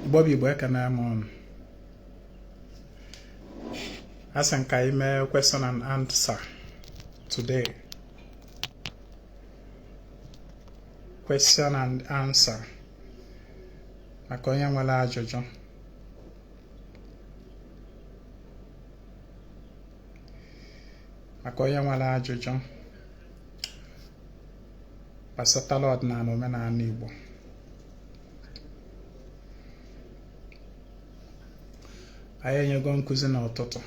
Igbo bụ Igbo ekene m ụnụ asị m ka anyị mee question and answer today question and answer maka onye nwelu ajụjụ maka onye nwelu ajụjụ gbasatalụ ọdịnanị omenanị Igbo anyị enyego nkụzi n'ụtụtụ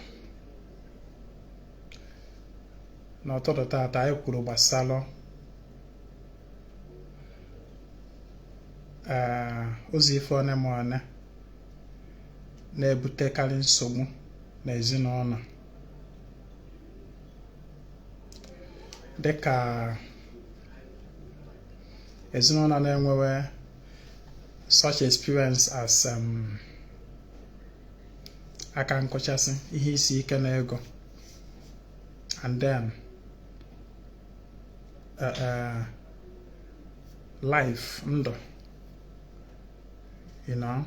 n'ụtụtụ taata anyị kwuru gbasara ee eh, ụzọ ife one ma one na-ebutekarị nsogbu n'ezinụnọ dịka ezinụnọ na-enwewe such experience as um, aka nkụchasị ihe isi ike na ego and then uh, uh, life ndụ you know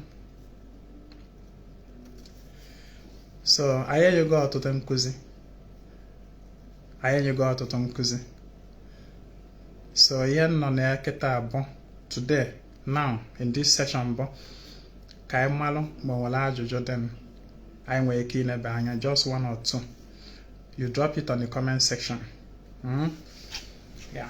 so anyị enyego ọtụtụ nkụzi anyị enyego ọtụtụ nkụzi so ihe nọ na ya kịtaa bụ today now in this session bụ ka anyị malụ ma o nwere ajụjụ dị anyị nwere ike inebe anya just one or two you drop it on the comment section mm? yeah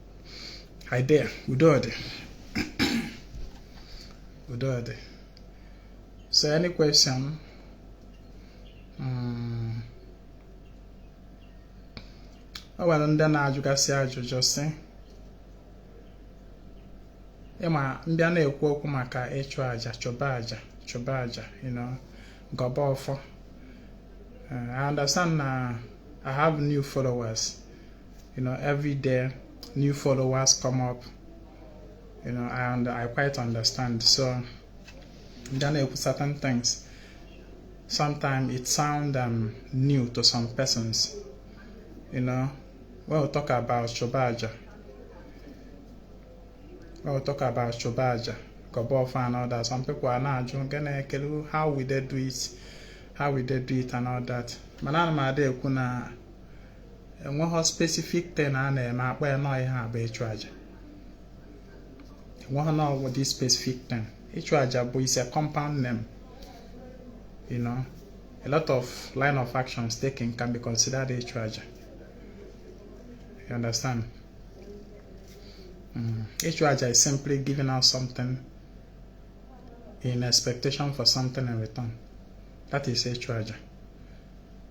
anyị dee udo dị udo dị so any question mm. o nwere ndị na-ajụgasị ajụjụ sị ịma m bịa na-ekwu okwu maka ịchụ aja chụba aja chụba aja you know gọba ọfọ uh, I understand na I have new followers you know every day new followers come up you know and I quite understand so ndị a na-ekwu certain things sometimes it sound um, new to some persons you know when we talk about Chobaja when we talk about Chobaja Kobofa and all that some people are now gonna ekele how we they do it how we they do it and all that mana ana m ada ekwu na enweghị specific thing a na-eme a kpọọ ya na ọ ihe a bụ ịchụ aja enweghị na ọ bụ this specific thing ịchụ aja bụ is a compound name you know a lot of line of actions taken can be considered ịchụ aja you understand mm. ịchụ aja is simply giving out something in expectation for something in return that is ịchụ aja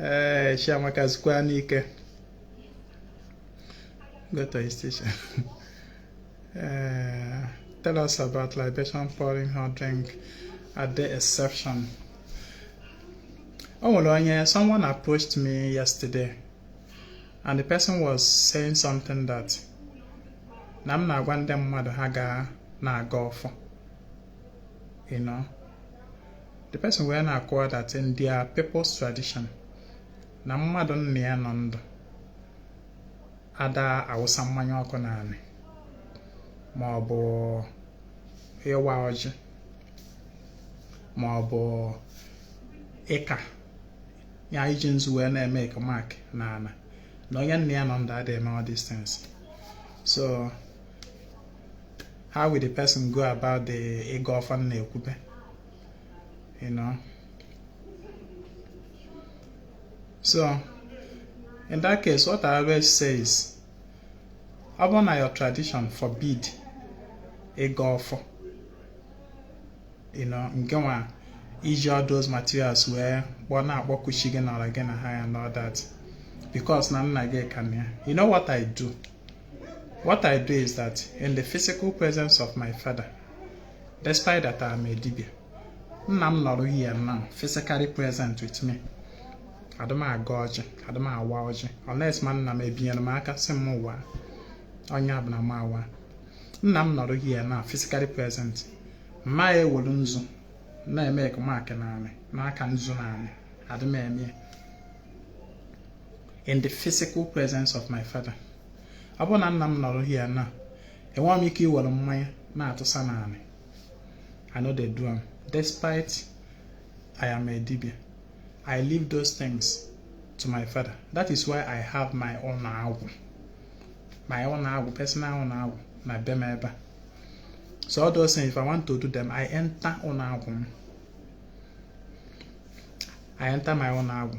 ee chiamaka zukwa n'ike go to his teacher uh, tell us about libation pouring hot drink are there exception o nwere onye someone approached me yesterday and the person was saying something that na m na-agwa ndị mmadụ ha ga na-agọ ọfọ you know the person wee na-akọwa that in their people's tradition na mmadụ nna ya nọ ndụ ada awụsa mmanya ọkụ n'anị ma ọ bụ ịwa ọjị ma ọ bụ ịka ya iji nzu wee na-emake mark n'ana na onye nna ya nọ ndụ ada eme all these things so how will the person go about the ịgọ ọfọ a m na-ekwube you know so in that case what I always say is ọ bụrụ na your tradition forbid ịgọ ọfọ you know nke nwa iji all those materials wee kpọ na-akpọku chi gị na ọra gị na ha ya and all that because na nna gị ka nọ ya you know what I do what I do is that in the physical presence of my father Despite that I'm a dibia, nna m nọrọ here now physically present with me. Adị m agọ ọjị, adị m awa ọjị, unless ma nna m ebinyere m aka sị m wa ọnya bụ na m awa. Nna m nọrọ here now physically present. Ma ewelu nzu na-emake mark n'anị na-aka nzu n'anị adị m eme in the physical presence of my father. Ọ bụrụ na nna m nọrọ here now enwe m ike iwere mmanya na-atụsa n'anị I no dey do am despite I am a dibia I leave those things to my father that is why I have my own agwụ my own agwụ personal own agwụ na be m ebe a so all those things if I want to do them I enter ọnụ agwụ m I enter my own agwụ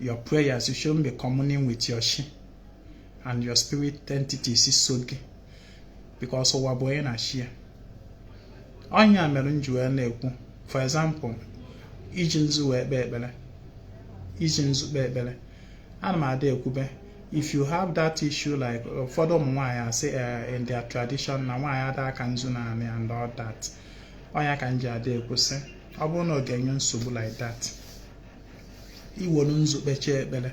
your prayers, you shouldn't be communing with your chi and your spirit entities so gị because ụwa bụ onye na chi ya ọnya mere m ji wee na-ekwu for example iji nzu wee kpee ekpere iji nzu kpee ekpere ana m ada ekwube if you have that issue like ụfọdụ ụmụ nwaanyị asị eh, in their tradition na nwaanyị ada aka nzu n'anị and all that ọnya ka m ji ada ekwu sị ọ bụrụ na ọ ga-enye nsogbu like that i were nzu kpechie ekpere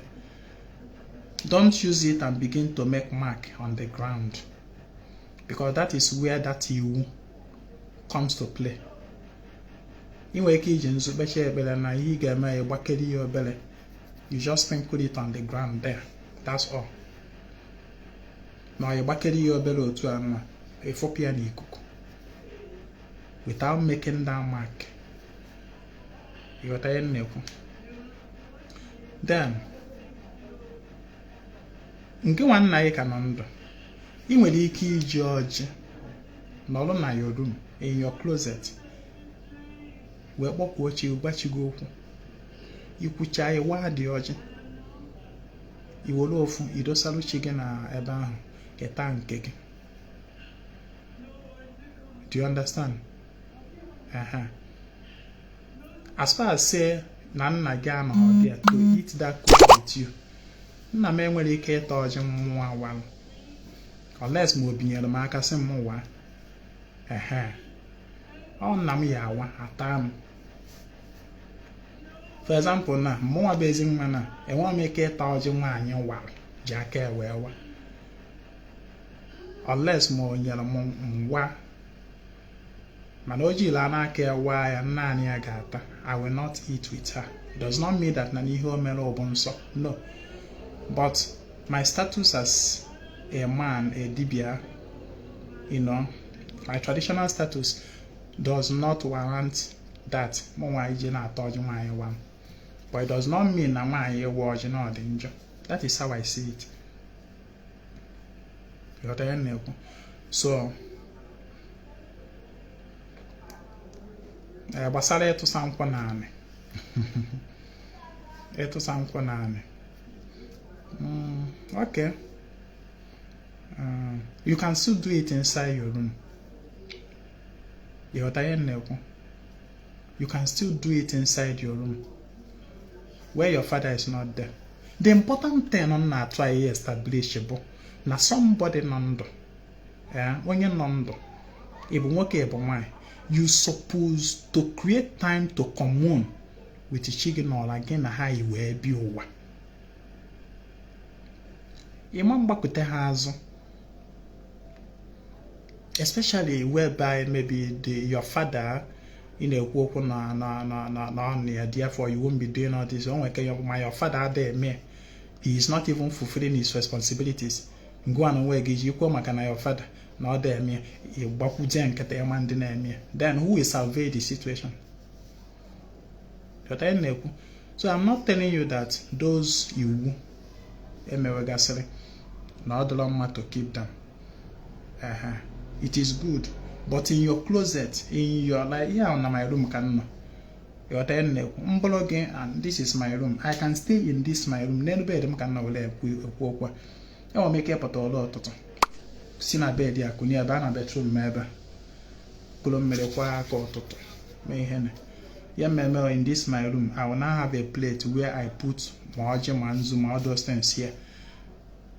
don't use it and begin to make mark on the ground because that is where that iwu comes to play ị nwere ike iji nzu kpechie ekpere na ihe ị ga-eme ya gbakere ya obere you just sprinkle it on the ground there that's all na ọ gbakere ya obere otu a nwa efopụ ya n'ikuku without making that mark ị ghọta ihe m na-ekwu then nke nwa nna yị ka nọ ndụ ị nwere ike iji ọjị nọrọ na your room in your closet wee kpọkuo chi gwa chi gị okwu i kwucha ị waa dị ọjị i were ofu i dosaru chi gị na ebe ahụ keta nke gị do you understand uh-huh. as far as say na nna gị anọghị there to eat that kola with you nna m enwerọ ike ịta ọjị mụnwa walụ unless ma o binyere m aka sị m waa ehe ọ nna m ya awa ata m for example na mụnwa bụ ezi nwa na enweghị m ike ịta ọjị nwaanyị wara ji aka wee wa unless ma o nyere m m waa mana o jila n'aka ewa ya naanị ya ga-ata i will not eat with her does not mean that na ihe o mere bụ nsọ no but my status as a man a dibia you know my traditional status does not warrant that mụ nwaanyị je na-ata ọjị nwaanyị wara but it does not mean na nwaanyị ịwa ọjị na ọ dị njọ that is how i see it ị ghọta ihe m na-ekwu so eh, gbasara ịtụsa nkwụ na anị ịtụsa nkwụ na anị mm, okay um, you can still do it inside your room ị ghọta ihe m na-ekwu you can still do it inside your room where your father is not there the important thing m na-atry ị establish bụ na somebody nọ ndụ eh, onye nọ ndụ ị bụ nwoke ị bụ nwanyị you suppose to create time to commune with chi gị na ọra gị na ha yi wee bịa ụwa ị ma gbakute ha azụ especially whereby maybe the your father ị na-ekwu okwu na na na na na ọnụ ya therefore you won't be doing all this o nwere ma your father adịghị eme he is not even fulfilling his responsibilities ngị nwa na onwe gị ị jikwo maka na your father na ọ da eme ị gbakwuje nkịtị ị ma dị na-eme then who will salvage the situation ghọta ihe m na-ekwu so I'm not telling you that those iwu emewegasịrị na ọ dịrọ mma to keep them ehee it is good but in your closet in your like ihe ahụ na my room ka m nọ ịghọta ihe m na-ekwu m bụrụ gị and this is my room I can stay in this my room n'elu bed m ka m nọ were ekwu okwu enwere m ike ịpụta ụra ụtụtụ si na bed a kunie ebe a na bedroom m ebe kuru mmiri kwọọ aka ụtụtụ mee ihe na ya mmemme in this my room I will now have a plate where I put ma ọjị ma nzu ma all those things here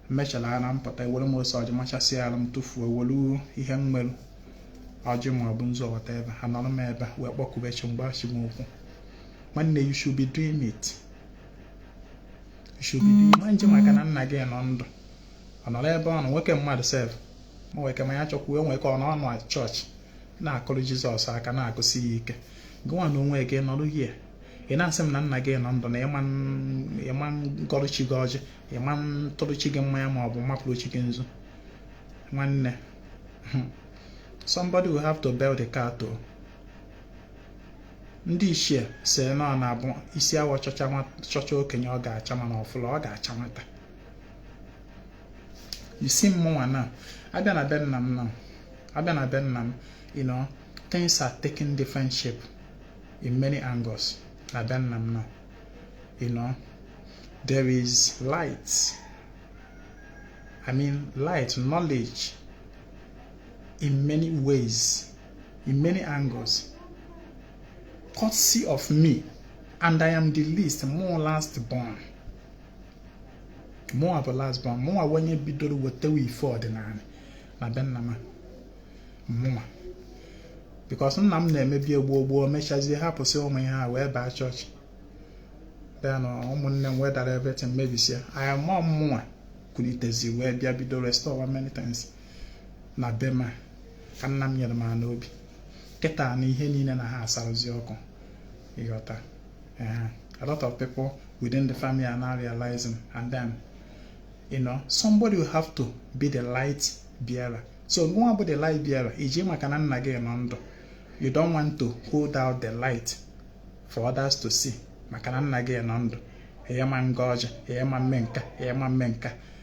mechara ara m pụta ewere m ose ọjị machasị ara m tụfuo ewere ihe m nwere ọjị ma ọ bụ nzu or whatever anọrọ m ebe wee kpọkube chi m gwaba chi m okwu nwanne you should be doing it shugide ma nche maka na nna gị nọ ndụ ọ nọrọ ebe ọ nọ nwoke mmadụ sef ma nwee ike ma ya chọkwuo nwere ike ọ nọ na chọọchị na-akụrụ jizọs aka na-akụsi ya ike gụnwa na onwe gị nọrụ here ị na-asị m na nna gị nọ ndụ na ịma ngọrụ chi gị ọjị ịma ntụrụ chi gị mmanya ma ọ bụ mapụrụ chi gị nzu nwanne somebody will have to bell the cat o ndị ichie sị na ọ na-abụ isi awọ chọchaa okenye ọ ga-acha mana ọ fụrọ ọ ga-acha nwata you see mmụnwa na a bịa na be nna m na a bịa na be nna m you know things are taking different shape in many angles na be nna m na you know there is light i mean light knowledge in many ways in many angles courtesy of me and I am the least mụ bụ last born mụwa bụ last born mụ bụ onye bidoro wetewa ife ọdịnala na be nna m mụnwa because nna m na-emebu gboo gboo mechazie hapụsị ụmụ ihe a wee baa chọọchị bịa na ụmụnne m wee dara everything mebisie anya mụọ mmụnwa kulitezi wee bịa bido restorewa many times na be m a ka nna m nyere m ana obi kịta na ihe niile na ha asarụzi ọkụ ịghọta a lot of people within the family are now realizing and then you know somebody will have to be the light bearer so gụnwa bụ the light bearer iji maka na nna gị nọ ndụ you don't want to hold out the light for others to see maka na nna gị nọ ndụ ịma ngọ ọjị ịma mme nka ịma mme nka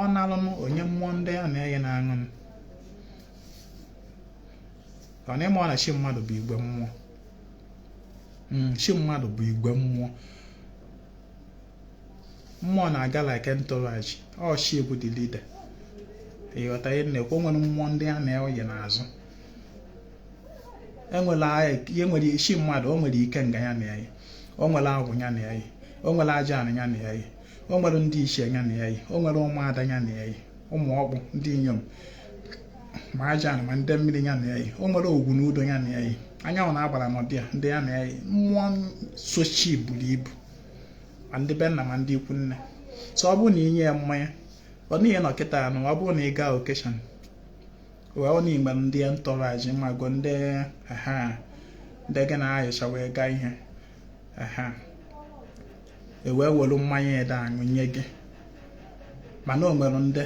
ọ nalụ m o nye mmụọ ndị ya na ya yi na-aṅụ m ọ na ịma ọ na chi mmadụ bụ igwe mmụọ hmm, chi mmadụ bụ igwe mmụọ mmụọ na-aga like entourage ọ chi bụ the leader ị ghọta ihe m na-ekwu o nwere mmụọ ndị ya na ya yi n'azụ enwere ihe nwere chi mmadụ o nwere ikenga ya na ya yi o nwere agwụ ya na ya yi o nwere aja anị ya na ya o nwere ndị ichie ya na ya yi o nwere ụmụada ya na ya yi ụmụ ọkpụ ndị inyom ma aja ma ndị mmiri ya na ya yi o nwere ogwu na udo ya na ya yi anyanwụ na agbara n'ọdị ya ndị ya na ya yi mmụọ so chi buru ibu ma ndị be nna ma ndị ikwu nne so ọ bụrụ na i nye ya mmanya ọ n'ihe nọ kịta anụ ọ bụrụ na ị gaa occasion wee ọ na-igbe ndị entourage ma gụ ndị ha ndị gị na ha yicha wee gaa ihe ahụ e wee were mmanya ị da aṅụ nye gị mana o nwere ndị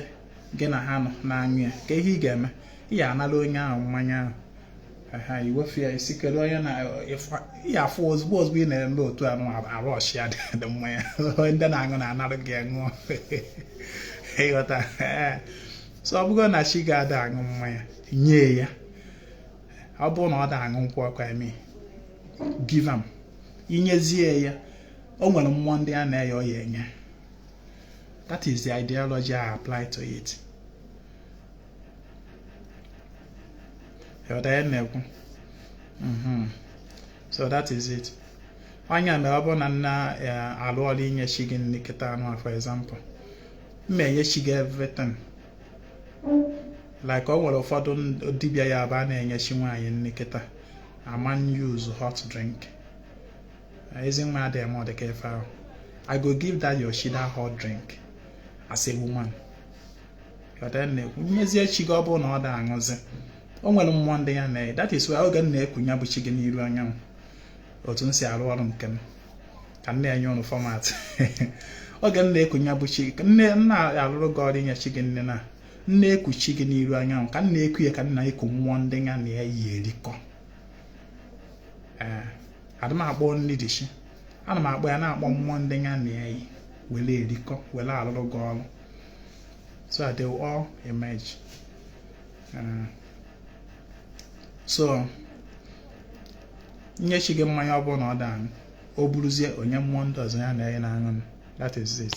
gị na ha nọ na-aṅụ ya kee ihe ị ga-eme ị ya anara onye ahụ mmanya ahụ ha iwefu ya ị sị kedu onye na ya afụ ozugbo ozugbo ị na-eme otu anụ arụ ọchịa dị mmanya ndị na-aṅụ na-anara gị aṅụ ị ghọta so ọ bụrụ na chi gị ada aṅụ mmanya nye ya ọ bụrụ na ọ da aṅụ nkwụ ọkụ eme give am i nyezie ya o nwere mmụọ ndị ya na ya yi ọ ya-enye that is the ideology I apply to it na-ekwu mm-hmm. so that is it ọ ya mere ọ bụrụ na m na eh, alụ ọrụ inye chi gị nri kịta anụ for example m ma-enye chi gị everything like ọ nwere ụfọdụ dibịa ya abụ ha na-enye chi nwaanyị nri kịta ama use hot drink ezi nwa adịghị eme ọdịka ife ahụ i go give that your chi that hot drink as a woman na-ekwu nyezie chi gị ọ bụrụ na ọ da aṅụzi o nwere mmụọ ndị ya na that is why oge m na-eku ya bụ chi gị n'iru anyanwụ otu m si arụ ọrụ nke m ka m na-enye ụnụ format oge m na-eku ya bụ chi nne m na-alụrụ gị ọrụ inye chi gị nri na m na-eku chi gị n'iru anyanwụ ka m na-eku ya ka m na-eku mmụọ ndị ya na ya yi erikọ ee adị m akpọ only the chi ana m akpọ ya na-akpọ mmụọ ndị ya na ya yi were erikọ were alụrụ gị ọrụ so that they will all emerge uh, so nye chi gị mmanya ọ bụrụ na ọ da aṅụ o buruzie o nye mmụọ ndị ọzọ ya na ya na-aṅụ that is it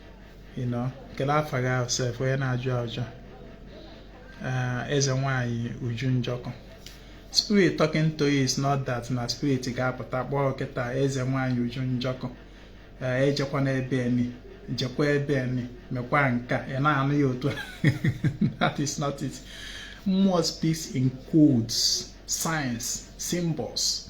you know kelee afa gị ahụ sef onye na-ajụ ajụjụ eh, eze nwanyị uju njọkụ spirit talking to you is not that na spirit ga-apụta kpọọ kịta eze nwanyị uju njọkụ eh, ejekwana ebe eni jekwa ebe eni mekwa nka ị na-anụ ya otu that is not it mmụọ speaks in codes signs symbols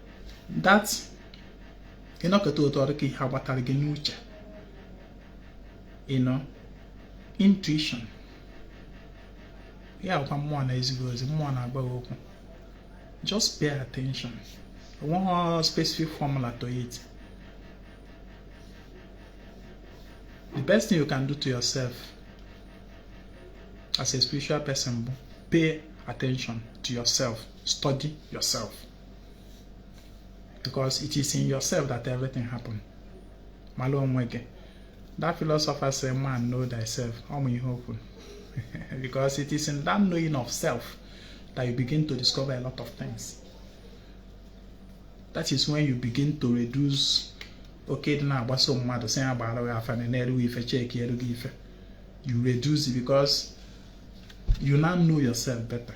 that ị nọkata otu ọ dị ka ihe agbatara gị n'uche you know intuition ya bụkwa mmụọ na-ezi gị ozi mmụọ na-agwa gị okwu just pay attention o nweghị specific formula to it the best thing you can do to yourself as a spiritual person bụ pay attention to yourself study yourself because it is in yourself that everything happen mara onwe gị that philosopher say man know thyself ọ ma ihe o kwu because it is in that knowing of self that you begin to discover a lot of things that is when you begin to reduce oke ịdị na-agbaso mmadụ sị ya gbaara gị afa neeru gị ife chekieru gị ife you reduce it because you now know yourself better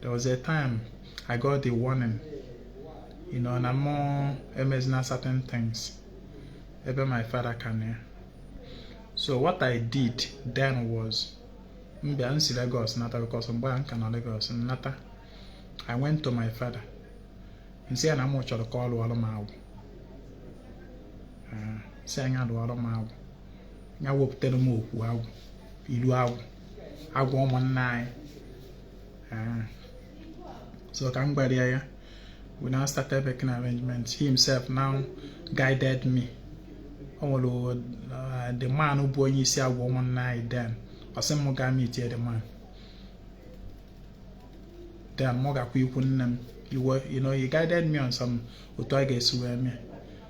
there was a time I got the warning you know na mụ emezina certain things ebe my father ka nọ ya so what I did then was m bịa m si Lagos nata because mgbe ahụ m ka nọ Lagos m nata I went to my father m sị ya na mụ chọrọ ka ọ lụọrụ m agwụ ah, sị ya nya lụọrụ m agwụ ya wepụtara m okwu agwụ iru agwụ agwụ ụmụnna anyị ah. so ka m gwara ya ya we now started making arrangement he himself now guided me o nwere uh, the man bụ onye isi agwụ ụmụnna anyị then ọ sị m gaa meet the man then mụ gakwa ikwu nne m iwe you know he guided me on some otu a ga-esi wee mee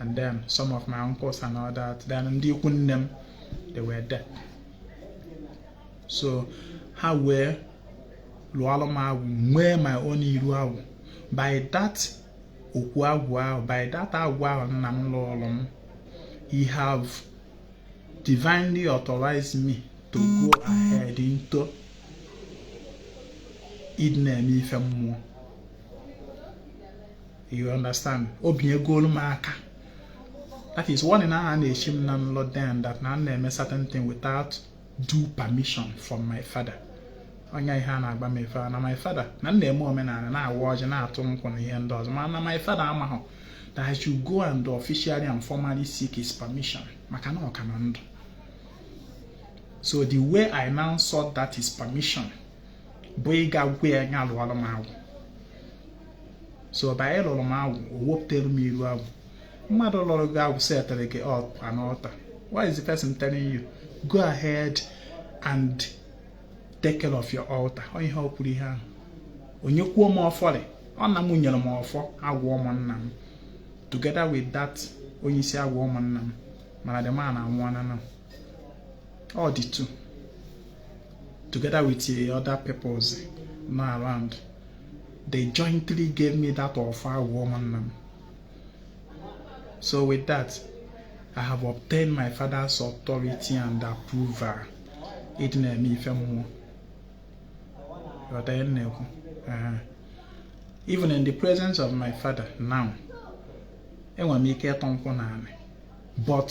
and then some of my uncles and all that then ndị ikwu nne m they were there so ha wee lụọlụ m agwụ nwee my own iru agwụ by that okwu agwụ ahụ by that agwụ ahụ nna m lụọlụ m he have divinely authorized me to go ahead into ịdị na-eme ife mmụọ you understand o binyegolu m aka that is one na a na-echi m na nlọ then that na m na-eme certain thing without due permission from my father onye ihe a na-agba m ife na my father na m na-eme omenala na-awa ọjị na-atụ nkwụ na ihe ndị ọzọ mana na my father amaghị that I should go and officially and formally seek his permission maka na ọ ka nọ ndụ so the way I now sought that his permission bụ ịga gwa ya nya lụọrọ m agwụ so by ịlụrụ m agwụ o wepụtara m iru agwụ mmadụ lụrụ gị agwụ setịrị gị up an altar why is the person telling you go ahead and take care of your altar ọ ihe o kwuru ihe ahụ o nyekwuo m ọfọrị ọ nna m nyere m ọfọ agwụ ụmụnna m together with that onye isi agwụ ụmụnna m mana the man anwụọla na ọ dị tu together with uh, other peoples nọ around they jointly gave me that ọfọ agwụ ụmụnna m so with that I have obtained my father's authority and approval ịdị na-eme ife mmụọ ghọta ihe m na-ekwu Ee. even in the presence of my father now enwere m ike ịtọ nkwụ n'ala but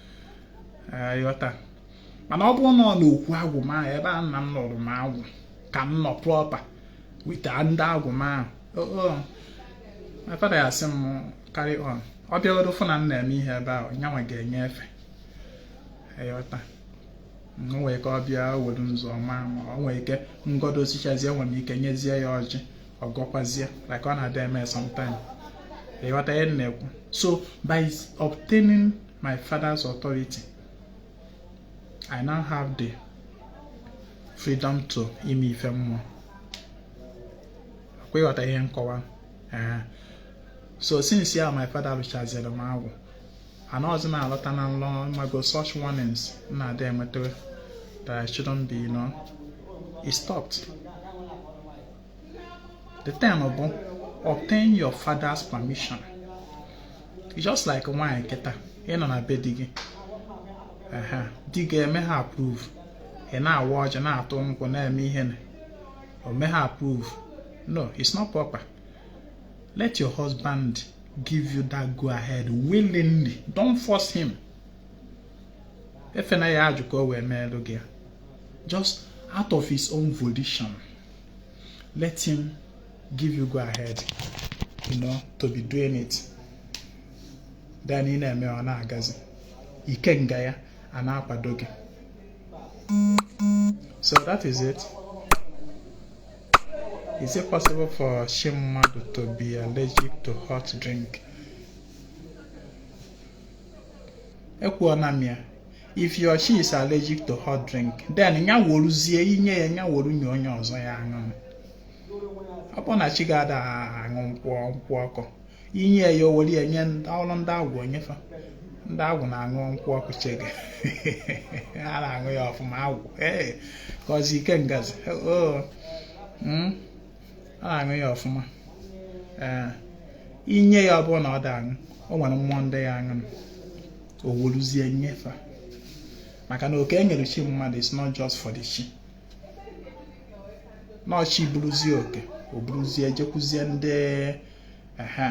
ị ghọta mana ọ bụrụ na ọ n'okwu agwụ m ahụ ebe a nna m lụrụ m agwụ ka m nọ proper with ndị agwụ m ahụ my father asị m carry on ọ bịaruo fụ na m na-eme ihe ebe ahụ nyanwa ga-enye efe ị ghọta o nwere ike ọ bịa were nzu ọma ma o nwere ike ngodo osichazie nwere ike nyezie ya ọjị ọ gọkwazie like ọ na-adị eme sometime ị ghọta ihe m na-ekwu so by obtaining my father's authority I now have the freedom to ime ife mmụọ akwa ị ghọta ihe m kọwa eh. so since ya my father lụchaziri m agwụ anaghịzi m alọta na nlọ maka such warnings m na-adị enweta that I shouldn't be you know it stopped the thing bụ obtain your father's permission just like nwaanyị kịta ị nọ na be di gị di gị emeha approve ị na-awa ọjị na-atụ nkwụ na-eme ihe na o meha approve no it's not proper let your husband give you that go ahead willingly don't force him efe na ya ajụ ka o wee meelụ gị just out of his own volition let him give you go ahead you know to be doing it then ị na-eme ọ na-agazi ikenga ya a na-akwado gị so that is it is it possible for shi mmadụ to be allergic to hot drink ekwuona m ya if he or she is allergic to hot drink then ya weruzie i nye ya ya weru nye onye ọzọ ya aṅụ ọ bụrụ na chi gị ada aṅụ nkwụ nkwụ ọkụ i nye ya o were ya nye ọrụ ndị agwụ o nye fa ndị agwụ na-aṅụ nkwụ ọkụ chi gị a na-aṅụ ya ọfụma agwụ ee ka ọzi ikengazi oo ọ na-aṅụ ya ọfụma ee i nye ya ọ bụrụ na ọ da aṅụ o nwere mmụọ ndị ya-aṅụ o weruzie nye fa maka na oke e nyere chi mmadụ is not just for the chi no chi buruzie oke o buruzie jekwuzie ndị ehe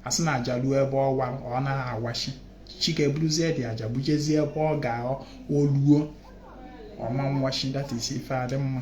a sị na aja ruo ebe ọ wa ọ na-awachi chi ga-eburuzie the aja bujezie ebe ọ ga-eluo ọ ma nwachi that is ife adị mma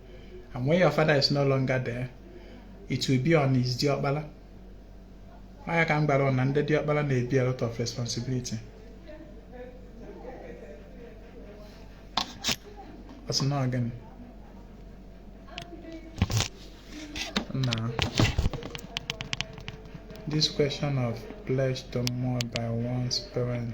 and when your father is no longer there it will be on his diọkpala ọ ya ka m gwara unu na ndị diọkpala na-ebu a lot of responsibility ọ sị na ọ gịnị now this question of pledge to mmụọ by one's parent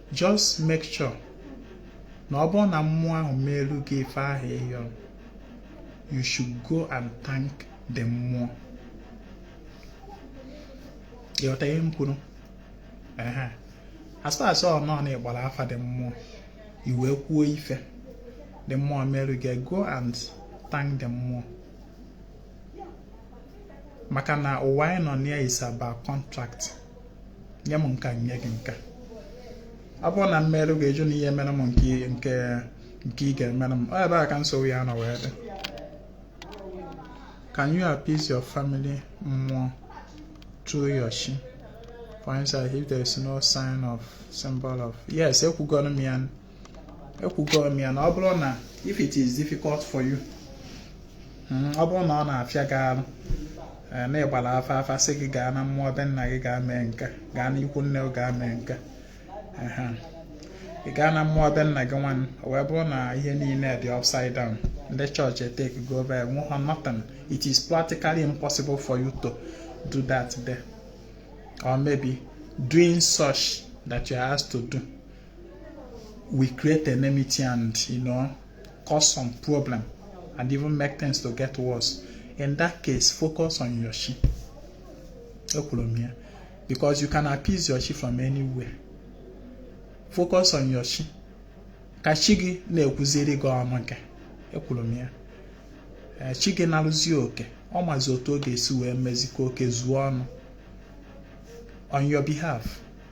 just make sure na ọ bụrụ na mmụọ ahụ meelu gị ife ahụ ị yọ you should go and thank the mmụọ ị ghọta ihe m kwuru as far as ọ nọ na ị gbara afa the mmụọ i wee kwuo ife the mmụọ meelu gị go and thank the mmụọ maka na ụwa anyị nọ na ya is about contract nye m nka nye gị nka ọ bụrụ na m meru gị ị jụ na ị ya-emere m nke nke nke ị ga-emere m ebe a ka nsogbu ya nọ wee dị can you appease your family mmụọ through your shi for instance if there is no sign or symbol of yes ekwugoro m ya ekwugo m ya na ọ bụrụ na if it is difficult for you hmm, ọ bụrụ na ọ na-afịa gị arụ eh, na ị gbara afa afa sị gị gaa na mmụọ be nna gị gaa mee nka gaa n'ikwu nne gị gaa mee nka ị gaa na mmụọ be nna gị nwanne o wee bụrụ na ihe niile dị upside down ndị chọọchị etakego over enweghọ nothing it is practically impossible for you to do that there or maybe doing such that you are asked to do will create enmity and you know cause some problem and even make things to get worse in that case focus on your chi ekwuru m ya because you can appease your chi from anywhere focus on your chi ka chi gị na-ekwuziri gị ọnụ nke ekwuru m ya eh, chi gị narụzie oke ọ mazi otu ọ ga-esi wee mezie ka oke zuo ọnụ on your behalf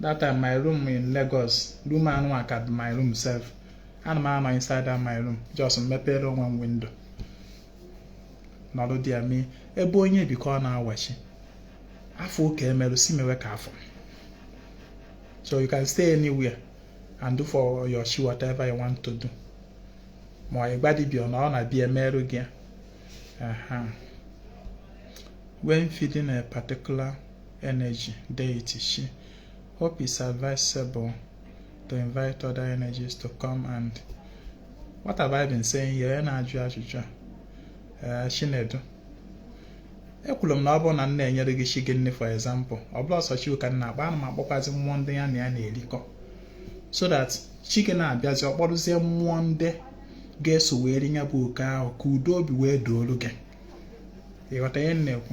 that time my room in Lagos room anụwa ka my room sef ana m anọ inside that my room just mepere one window nọrọ there mee ebe onye bi ka ọ na-awachi afụ ka emerụ sị mewe ka afụ so you can stay anywhere and do for your chi whatever you want to do ma ịgba dibia na ọ na-abịa emerụ gị ya when feeding a particular energy deity chi hope it's advisable to invite other energies to come and what have I been saying here na-ajụ ajụjụ a eh, Chinedu ekwuru m na ọ bụrụ na m na-enyere gị chi gị nni for example ọ bụrọ sọ chi ka m na-akpọ ana m akpọkwazi mmụọ ndị ya na ya na-erikọ so that chi gị na-abịazi ọ kpọrụzie mmụọ ndị ga-eso wee rie ya bụ oke ahụ ka udo obi wee doolu gị ịghọta ihe m na-ekwu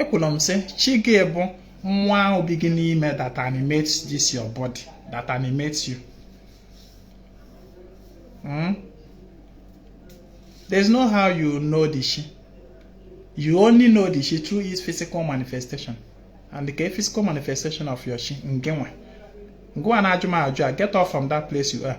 ekwuru m sị chi gị bụ mmụọ ahụ bi gị n'ime that animates this your body that animates you hmm? there's no how you know the chi you only know the chi through its physical manifestation and the physical manifestation of your chi gịnwa gịnwa na-ajụ m ajụjụ a get off from that place you are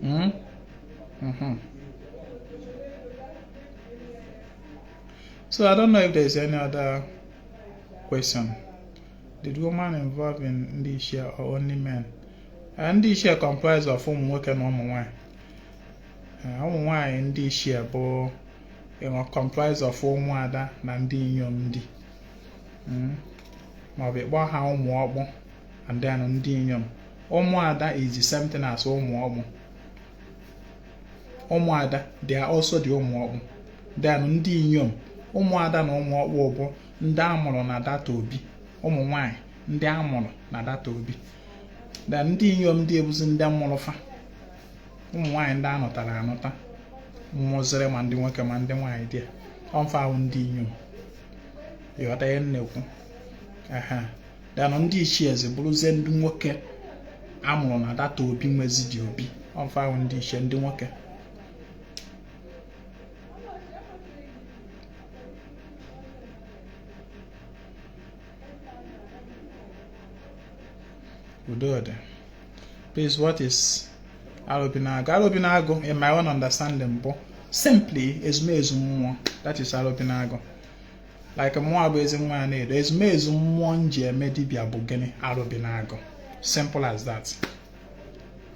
Hmm? Mm-hmm. So I don't know if there's any other question. Did woman involved in ndị ichie or only men? Ndị ichie comprised of ụmụ nwoke na ụmụ nwanyị. Eh, ụmụ nwanyị ndị ichie bụ you know comprised of ụmụada na ndị inyom ndị hmm? maọbụ ị kpọọ ha ụmụ ọkpụ and then ndị inyom ụmụada is the same thing as ụmụ ọkpụ ụmụada they are also the ụmụ ọkpụ then ndị inyom ụmụada na ụmụ ọkpụ bụ ndị amụrụ na that obi ụmụ nwanyị ndị amụrụ na that obi then ndị inyom ndị a bụzi ndị mụrụ fa ụmụ nwaanyị ndị anụtara anụta mụziri ma ndị nwoke ma ndị nwaanyị there ọmfa wụ ndị inyom ịghọta ihe m na-ekwu then ndị ichie eze bụrụzie ndị nwoke a mụrụ na that obi nwezi dị obi ọ fa ahụ ndị ichie ndị nwoke Udo dị. Please, what is Arobinagu? Arobinagu, in my own understanding, bụ simply ezumezu mmụọ. That is Arobinagu. like mụnwa bụ ezenwanyị Anaedo ezumezu mmụọ m ji eme dibịa bụ gịnị Arobinagu simple as that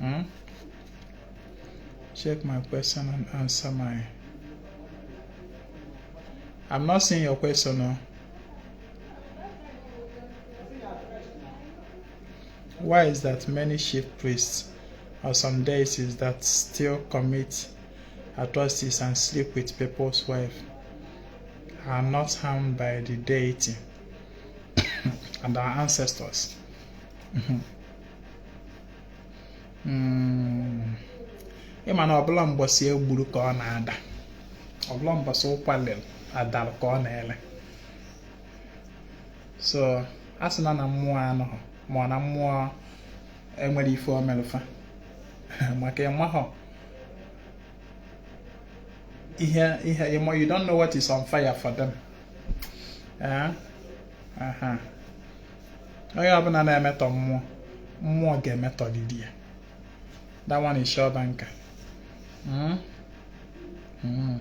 hmm? check my question and answer my I'm not seeing your question no why is that many chief priests or some deities that still commit atrocities and sleep with people's wife are not harmed by the deity and our ancestors. Hmm. ị ma na ọ bụrọ mbọsị e gburu ka ọ na-ada ọ bụrọ mbọsị ụkwa lere adara ka o na-ele so asịna na mmụọ anụghị ma na mmụọ enwerọ ife o melụ fa maka ị mahọ ihe ihe ịmọ you don't know what is on fire for them eh? onye ọbụla na-emetọ mmụọ mmụọ ga-emetọlịlị ya that one is sure banker hmm? hmm.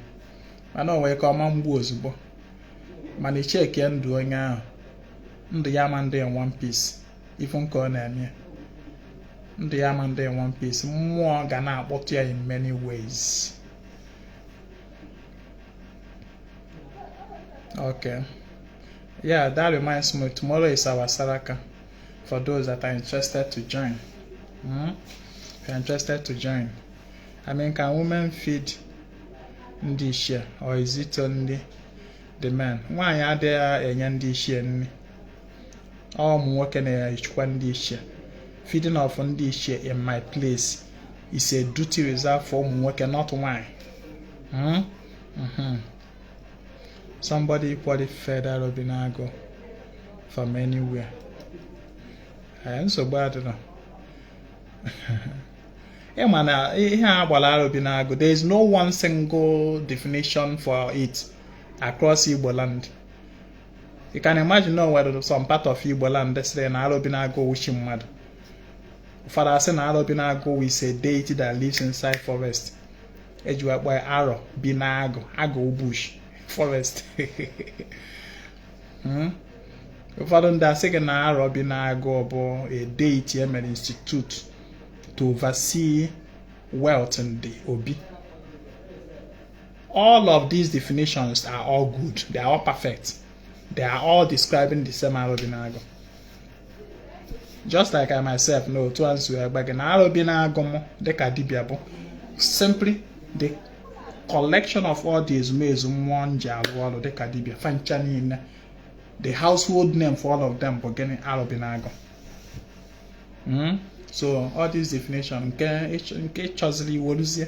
mana o nwere ike ọ ma mgbu ozugbo mana i checkie ndụ onye ahụ ndụ ya ma ndị in one piece ị fụ nke ọ na-eme ndụ ya ma ndị in one piece mmụọ ga na-akpọtụ ya in many ways okay yeah that reminds me tomorrow is our saraka for those that are interested to join mm? if you're interested to join i mean can women feed ndị ichie or is it only the men nwaanyị adịghị enye ndị ichie nri ụmụ nwoke na-echekwa ndị ichie feeding of ndị ichie in my place is a duty reserved for ụmụ nwoke not nwanyị hmm? mm-hmm. somebody equally feed Arobinagu from anywhere eh, nsogbu adịrọ ị ma na ihe a gbara Arobinagu there is no one single definition for it across Igbo land you can imagine na onwere some part of Igbo land sịrị na Arọbinagụ wụ chi mmadụ ụfọdụ asị na Arọbinagụ is a deity that lives inside forest eji akpọ ya arọ bi na agụ agụ bush forest hmm? ụfọdụ ndị asị gị na Arọbinagụ bụ a deity emere institute to oversee wealth in the obi All of these definitions are all good. They are all perfect. They are all describing the same Arọbinagụ. Just like I myself know otu a nsu egbe gị na Arọbinagụ m dịka dibịa bụ simply the collection of all the ezumezu mmụọ m ji arụ ọrụ dịka dibịa fa ncha niile the household name for all of them bụ gịnị Arọbinagụ. Mm? So all this definition nke nke ị chọziri ị weruzie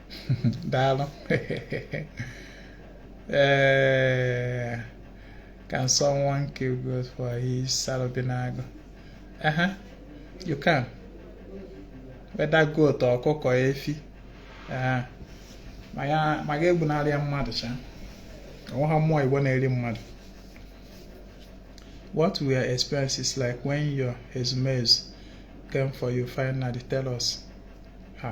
daalụ ee can someone kill goat for his Arọbinagụ aha you can whether goat ọkụkọ efi aha ma ya ma ga egbunarị ya mmadụ cha onwe ha mmụọ Igbo na-eri mmadụ what were experiences like when your ezumezu came for you finally tell us ha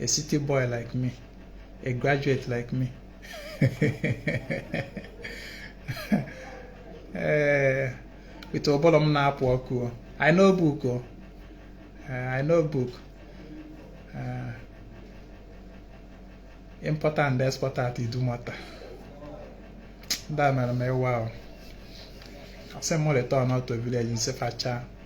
a city boy like me, a graduate like me. Eh, with ụbụlụ m na-apụ ọkụ I know book o eh, I know book eh, importer and exporter at Idumota ndị a mere m ịwa ahụ asị m return out to village m sị fa cha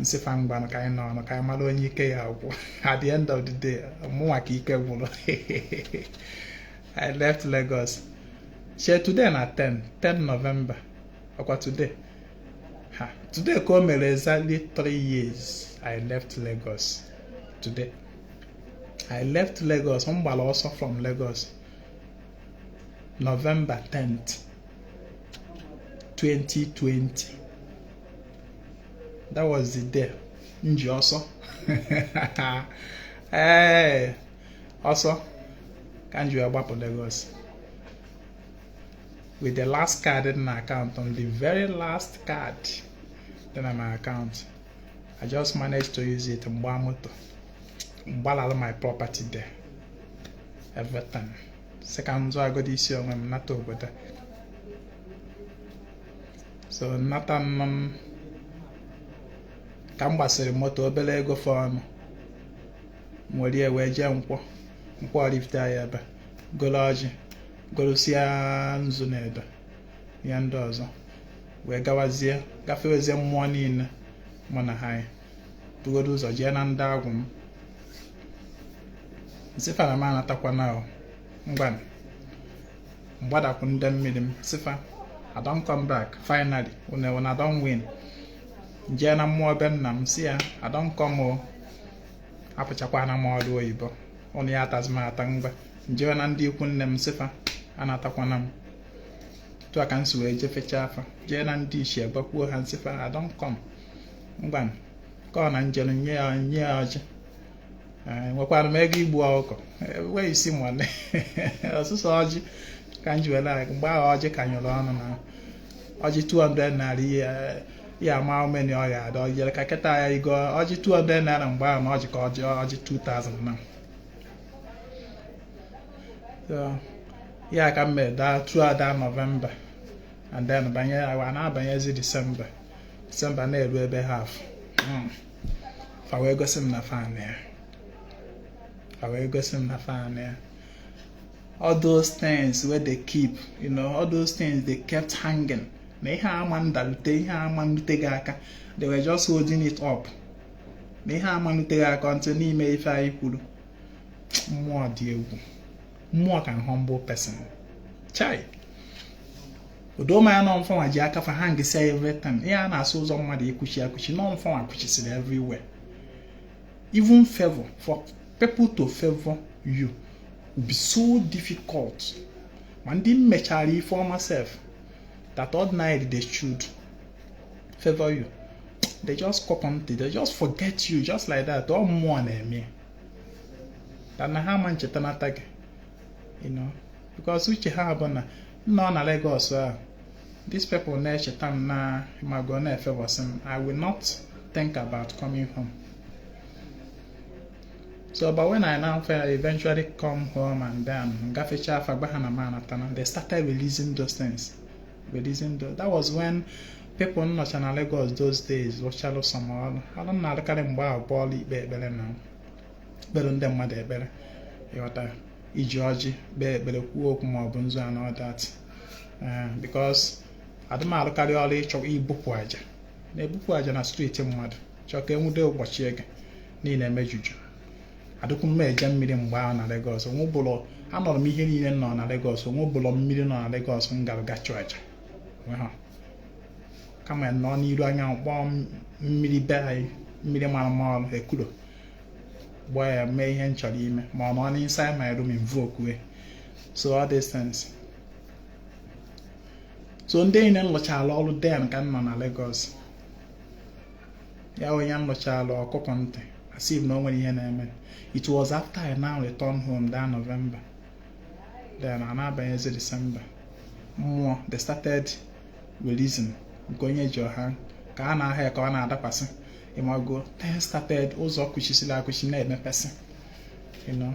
m sị fa ngwanụ ka anyị nọrọ ka anyị mara onye ike ya-agwụ at the end of the day mụnwa ka ike gwụrụ I left Lagos shey today na 10 November ọkwa today eh today ka o mere exactly 3 years I left Lagos today I left Lagos m gbara ọsọ from Lagos November 10th 2020 that was the day m ji ọsọ ee eh, ọsọ ka m ji agbapụ Lagos with the last card dị na account on the very last card dị na my account I just managed to use it m gbaa moto m gbalala my property there everything sị ka m zọgodi isi onwe m nata obodo so nnata nna m ka m gbasịrị moto obere ego fọọnụ m were ya wee jee nkwọ nkwọ Oraifite ya ebe goro ọjị gorosia nzu na ebe ya ndị ọzọ wee gawazie gafewezie mmụọ niile mụ na ha yi bugodo ụzọ jee na ndị agwụ m nsị fa na m anatakwana ngwanụ mgbadakwu ndị mmiri m sị fa I don come back finally una una don win njee na mmụọ be nna m sị ya I don come o apụchakwana m ọrụ oyibo ụnụ ya atazi m ata ngwa njee na ndị ikwu nne m sị fa anatakwana m tu a ka m si wee jefechaa fa jee na ndị ichie gbakwuo ha nsị fa I don come ngwa ka ọ na njelu nye ya ọjị enwekwara m ego igbu ọkụkọ where is money ọ sọsọ ọjị ka m ji were aga mgbe ahụ ọjị ka nyụrụ ọnụ na ọjị 200 naira ị ya ama how many ọ ga-ada ọ jere ka kịta ya igo ọjị 200 naira mgbe ahụ na ọjị ka ọjị 2000 na So, ya ka m mere daa throughout that November and then banye awa na-abanyezi December December na-eru ebe half fa wee gosi m na fa nọ ya fa wee gosi m na fa nọ ya all those things wey dey keep you know all those things they kept hanging na ihe ama ndalute ihe ama nrute gị aka they were just holding it up na ihe ama nrute gị aka until na i mee ife anyị kwuru mmụọ dị egwu mmụọ can humble person chai o doo m anya na ụmụ ife nwa ji aka fa hangsi everything ihe a na-asị ụzọ mmadụ ikwuchi ekwuchi na ụmụ ife nwa kwuchisiri everywhere even favor for people to favor you will be so difficult ma ndị m mechara ife ọma sef that ordinarily they should favor you they just cop on they just forget you just like that ọ mmụọ na-eme na ha ama ncheta nata gị you know because uche ha bụ na nnọ na Lagos ahụ these people na-echeta m na mago na-efavoursị m I will not think about coming home so but when I now eventually come home and then gafechaa fa gwa ha na m anatana they started releasing those things That was when people nọcha na Lagos those days rụchalụ some ọrụ ọrụ m na-arụkarị mgbe ahụ bụ ọrụ ikpe ekpere na-ekpere ndị mmadụ ekpere ị ghọta iji ọjị kpee ekpere kwuo okwu ma ọ bụ nzu and all that eh, because adị m arụkarị ọrụ ịchụ ibupụ aja na-ebupụ aja na street mmadụ chọọ ka e nwude ụbọchị ebe niile emejuju adịkwu m eje mmiri mgbe ahụ na Lagos anọrọ m ihe niile nọ na Lagos o nwebulọ mmiri nọ na Lagos m gara ga chụọ aja kama m nọ n'iru anya kpọọ mmiri be anyị mmiri mara mma ọrụ ekuro gbaa ya mee ihe m chọrọ ime ma ọ nọ n'inside my room invoke so all these things so ndị niile m lụchara ọrụ then ka m nọ na Lagos ya onye m lụchala ọkụkọ ntị as if na o nwere ihe na-eme it was after I now return home that November then a na-abanyezi December mmụọ they started releasing nke onye ji ọ ha ka a na-aha ya ka ọ na-adakwasị ị mago then started ụzọ kụchisiri akụchi na-emepesị you know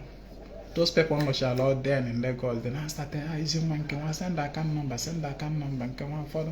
those people nọchara all then in Lagos they now started ha ah, izi nwa nke nwa send account number send account number nke nwa ụfọdụ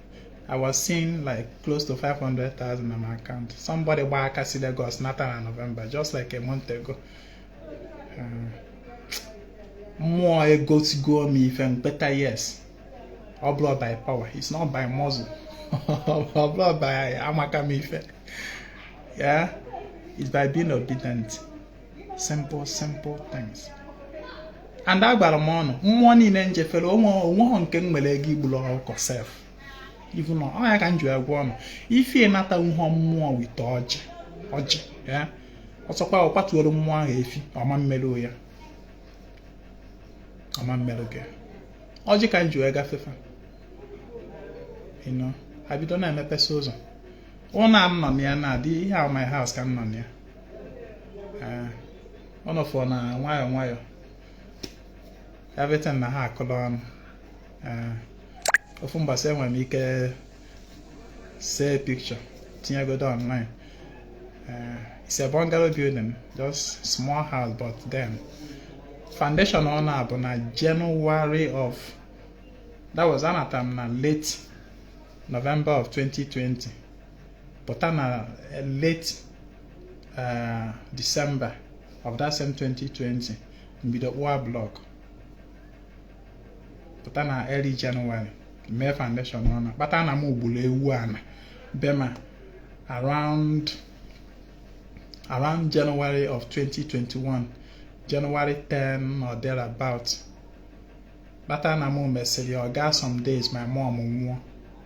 I was seeing like close to 500,000 na my account. Somebody gba aka si Lagos nata na November just like a month ago. Uh, mmụọ egosigo m ife m beta yes. Ọ bụrọ by power, it's not by muscle. Ọ bụrọ by amaka m ife. Yeah, it's by being obedient. simple simple things and agwara m unu mmụọ niile m jefere o nweghọ nke m nwere ego igburu ọkụkọ sef ibu na ọ ya ka m ji agwa unu ife ịnata nhọ mmụọ wite ọjị ọjị ya ọ sọkwa ọ kwatuoro mmụọ ahụ efi ọ ma-emere ya ọ ma-emere gị ọjị ka m ji wee gafe fa ịnọ abido na-emepesa ụzọ ụlọ a m nọ na ya na-adị ihe a my house ka m nọ na ya eh, unu afụ na nwayọọ nwayọọ everything na-ahakọla ọnụ eh, ofu mbọsị enwere m ike see picture tinyegodo online eh, it's a bungalow building just small house but then foundation ụnọ a bụ na January of that was anata m na late November of 2020 pụta na eh, late eh, December of that same 2020 m bido kpụwa blọk pụta na early January mee foundation ụnọ a kpata na m gburu ewu ana be m a around around January of 2021 January 10 or thereabout kpata na m mesịrị ọ gaa some days my mom nwụọ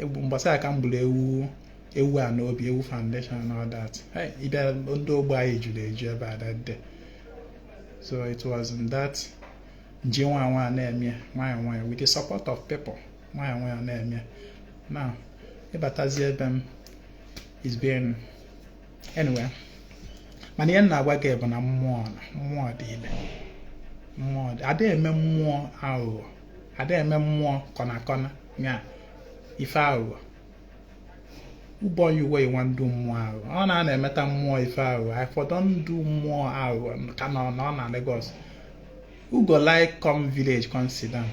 egwu mbọsị a ka m gburu ewu ewu a n'obi ewu foundation and all that ịbịa ndị ogbe anyị juru eju ebe a that day so it was in that m ji nwayọ na-eme nwayọ nwayọ with the support of people nwayọ nwayọ na-eme now ịbatazi ebe m is being anyway mana ihe m na-agwa gị bụ na mmụọ na mmụọ dị ile mmụọ dị ada eme mmụọ aghụghọ ada eme mmụọ corner corner ya ife aghụghọ o boy you wey wan do mmụọ aghụghọ ọ na a na-emeta mmụọ ife aghụghọ I for don do mmụọ aghụghọ ka m nọ na ọ na Lagos who go like come village come sit down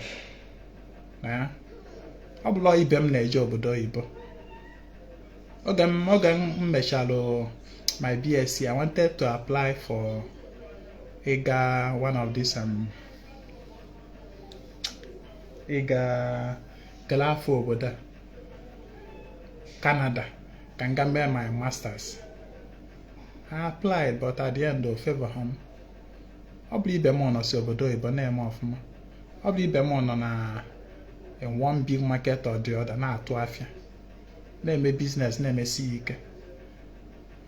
ọ bụlụ ibe m na-eje obodo oyibo oge m oge m mechalụ my BSc I wanted to apply for ịga one of these um, ịga kele afa obodo a Canada ka m ga mee my masters I applied but at the end ọ favorhọ m ọ bụrụ ibe m nọsị obodo oyibo na-eme ọfụma ọ bụrụ ibe m nọ na in one big market or the other na-atụ afịa na-eme business na-emesi ike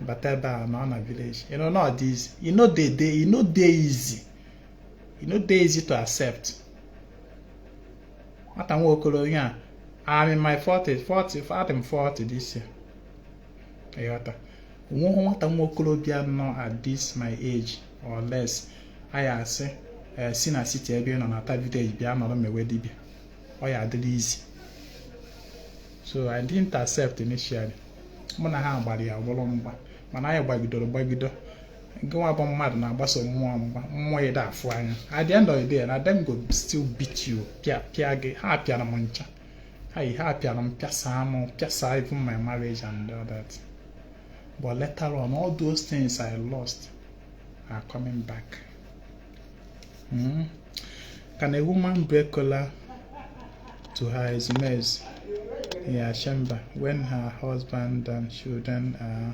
bata ebe a nọ na village you know not easy e no dey dey e no dey easy e no dey easy to accept nwata nwa okorobịa I'm in my 40 adị m 40 this year ịghọta onweghị nwata nwa okorobịa nọ at this my age or less a ya asị eh, si na city ebe ị nọ nata village bịa nọrọ mewe dibịa ọ ya adịrị easy so I didn't accept initially mụ na ha gbara ya bụrụ mgba mana anyị gbagidoro gbagido gịnwa bụ mmadụ na-agbaso mmụọ mgba mmụọ ị da afụ anya at the end of the day na dem go still beat you pịa pịa gị ha pịara m chai ha pịara m pịasa m pịasa even my marriage and all that but later on all those things I lost are coming back mm-hmm. can a woman break kola to her ezumezu in her chamber when her husband and children are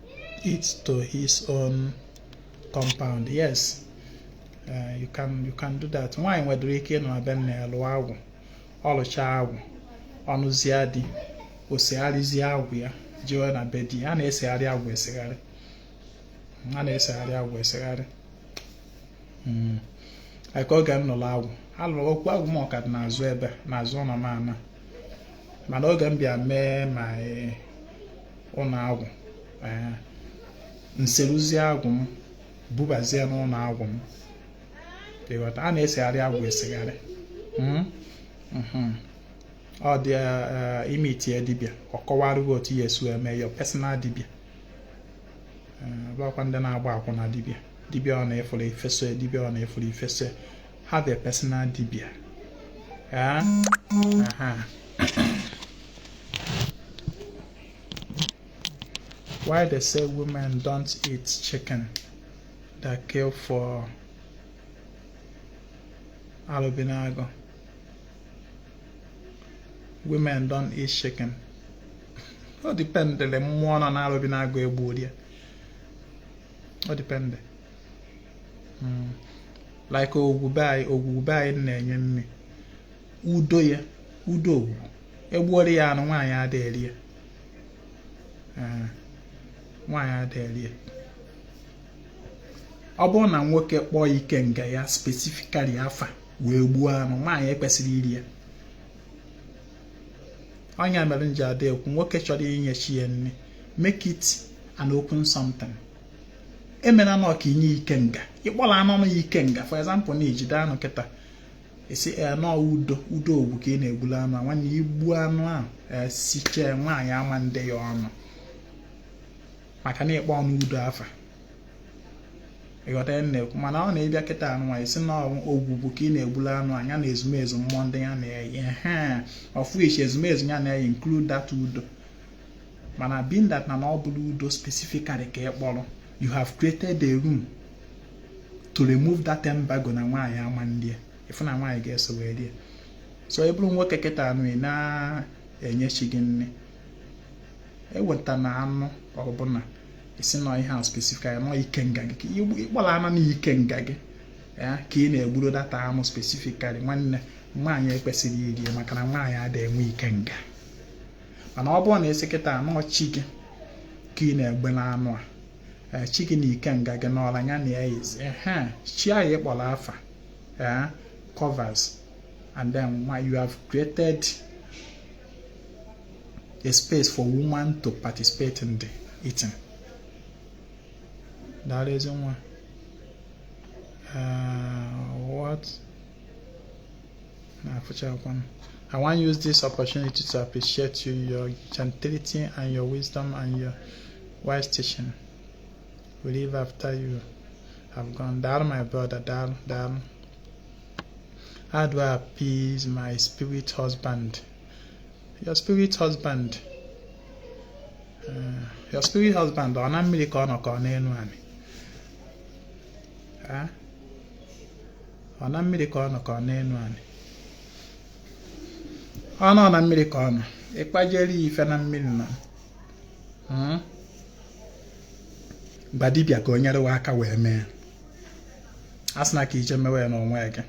it to his own compound yes uh, you can you can do that nwaanyị nwedịrị ike ịnọ na be nna ya lụọ agwụ ọ lụcha agwụ ọ nụzie di o segharịzie agwụ ya jiwe na be di a na-esegharị agwụ esegharị a na-esegharị agwụ esegharị hmm. like oge m nụrụ agwụ a lụrụ okwu agwụ m ọ ka dị n'azụ ebe n'azụ ụlọ m ana mana oge m bịa mee ma ụlọ agwụ ee nseruzie agwụ m bubazie n'ụlọ agwụ m ịghọta a na-esegharị agwụ esegharị mm, mhm. ọ dị eh, i meetie dibịa ka ọ kọwara gị otu ị ya-esi eme your personal dibịa abụkwana ndị na-agba akwụna dibịa dibịa ọbụna ị fụrụ i fesoe dibịa ọbụna ị fụrụ i fesoe have a personal dibia ya aha why they say women don't eat chicken that kill for Arobinagu women don't eat chicken ọ dipendịrị mmụọ nọ na Arobinagu e gbuuru ya ọ dipendị hmm. like Ogwugwu be anyị Ogwugwu be anyị na-enye nni udo ya udo ogwugwu e gbuoro ya anụ nwaanyị ada eri ya eh, nwaanyị ada eri ya ọ bụrụ na nwoke kpọọ ikenga ya specifically afa wee gbuo anụ nwaanyị ekwesịrọ iri ya ọ nya mere m ji ada ekwu nwoke chọrọ inye chi ya nni make it an open something emena na ọ ka i nye ikenga ị kpọrọ anụ na ikenga for example na i jide anụ kịta ị sị eh, na ọ udo udo ogwugwu ka ị na-egbulu anụ a nwanne i gbuo anụ a eh, sichee nwaanyị ama nde ya ọnụ maka na ị kpọọnụ udo afa ị ghọta ihe m na-ekwu mana ọ na ị bịa kịta a nụnwa ị sị na ọ ogwugwu ka ị na-egbulu anụ a nya na ezumezu mmụọ ndị ya na-eyi of which ezumezu ya na-eyi include that udo mana being that na ọ bụrọ udo specifically ka ị kpọrọ you have created a room to remove that embargo na nwaanyị ama nri ya ị fụ na nwaanyị ga-eso wee rie so ị bụrụ nwoke kịta na ị na-enye chi gị nni ewetana anụ ọbụla ị sị na ọ ihe a specifically na ọ ikenga gị ị kpọrọ anụ na ikenga gị ya ka ị na-egburu that anụ specifically nwanne nwaanyị ekwesịrọ iri maka na nwaanyị ada enwe ikenga mana ọ bụrụ na ị sị kịta a na ọ chi gị ka ị na-egbulu anụ a eh, chi gị na ikenga gị na ọra ya na ya yizi ehe chi ahụ ị kpọrọ afa eh, covers and then you have created a space for woman to participate in the eating daalụ ezi nwa eh, what I want to use this opportunity to appreciate you, your gentility and your wisdom and your wise teaching. We live after you have gone. Down, my brother, down, down. How do I appease my spirit husband? Your spirit husband. Uh, your spirit husband, ọ na mmiri ka ọ nọ ka ọ n'elu anyị. ọ na mmiri ka ọ nọ ka ọ n'enu anị ọ nọ na mmiri ka ọ nọ ị kpajere ya ife na mmiri na hmm? gwa dibịa ka o nyere wa aka wee mee asịna ka i je mewe ya n'onwe gị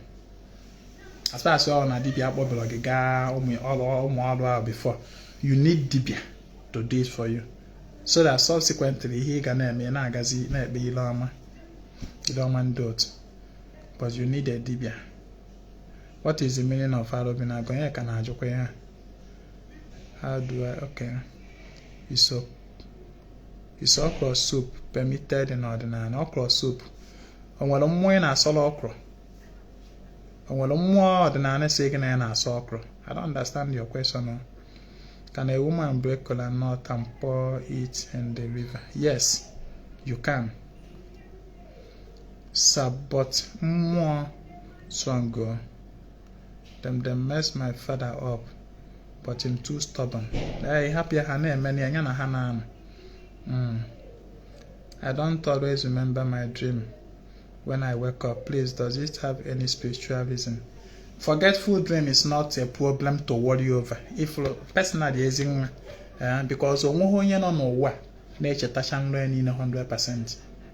as far as na dibịa akpọbara gị gaa ụmụ ọrụ ahụ before you need dibịa to do it for you so that subsequently ihe ị ga na-eme na-agazi na-ekpe ile ọma ile ọma ndị otu but you need a dibia what is the meaning of Arọbinagụ onye ka na-ajụkwa ya how do I okay is okra soup permitted in ọdịnanị okra soup o nwere mmụọ ị na-asọrọ ọkwụrụ o nwere mmụọ ọdịnanị sị gị na ya na-asọ ọkwụrụ I don't understand your question can a woman break kola nut and pour it in the river yes you can But mmụọ strong o. Dem mess my father up but him too stubborn. Ee, hapụ ya ha na-eme ya ya na ha na-anọ. Mm. I don't always remember my dream when I wake up. Please, does it have any spiritual reason? Forgetful dream is not a problem to worry over. If personally ezi nwa, eh, because onweghị onye nọ n'ụwa na-echetacha nrọ ya niile 100%.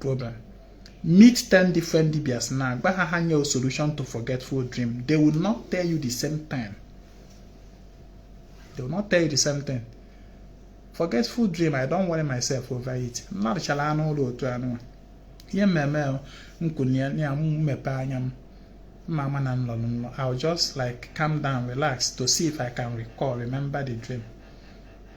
problem meet 10 different dibias now gwa ha ha nye solution to forgetful dream they will not tell you the same thing they will not tell you the same thing forgetful dream i don't worry myself over it m lọchala nlọ otu anụ ihe m eme m kunie m mepe anya m m ama na m lọ nlọ i'll just like calm down relax to see if i can recall remember the dream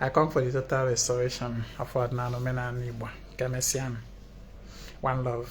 I come for the total restoration of ọdịnanị omenanị Igbo. Ka emesịa One love.